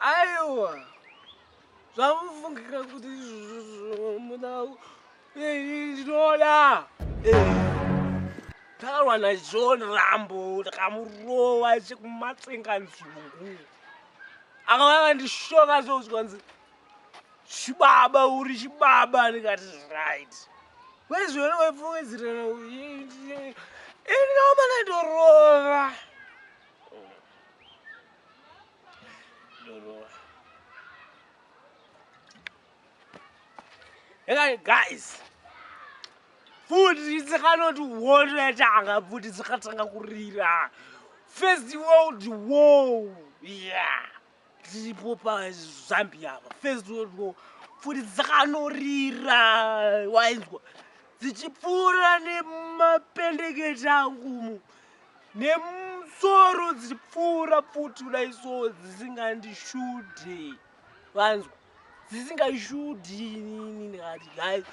Aiwa zvamufungira kuti muda ndinoda tarwa najohn rambo ndakamurova chekumatsenga nzungu akavava ndishoka zvouzwanzi chibaba uri chibaba ndikati right wezvona waifungidzirana ini naomana ndorova Hey guys, food is cannot water at anga food is katanga kurira. First world war. Yeah. Tipo pa Zambia. First world war. Food is kanorira. Wainzwa. Zichipura ne mapendekete angu. nemusoro dzichipfuura pfuti kudai so dzisingandishude vanzwa dzisingashudi inini ndikati gai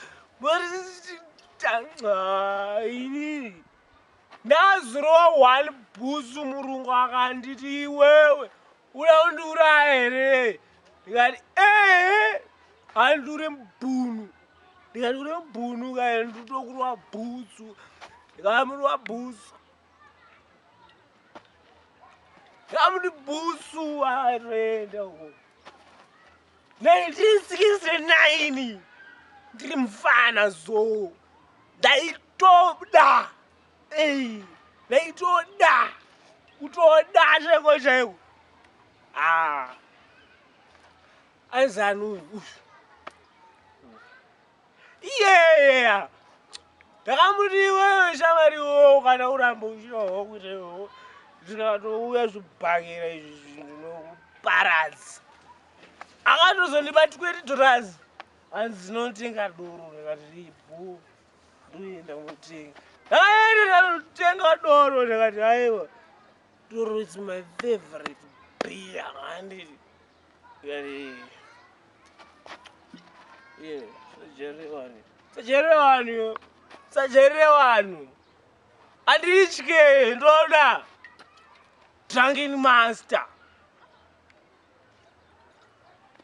inini ndazirowa one busu murungu akanditi iwewe Uda kundiuraya here? Ndikati ehe handure mbunu ndikati uri mbunu kae nditokurwa bhutsu ndikamurwa bhutsu ndikamuti bhutsu aroenda uko 1969 ndiri mufana zo ndaitoda Ei, ndaitoda kutoda chaiko chaiko ah. aizanu uyu iyeyeya ndakamuti iwewe shamari iwowo kana uramba uchinoho kuita iwowo ndinatouya zvibhakira izvi zvinhu nokuparadza akatozondiba tweti dhorazi hanzi ndinotenga doro ndikati ribhu ndoenda kunotenga aenda anotenga doro ndakati aiwa doro is my favorite beer handiti ikati ye sajere vanhu sajere vanhu sajere vanhu anditye ndoda drunken master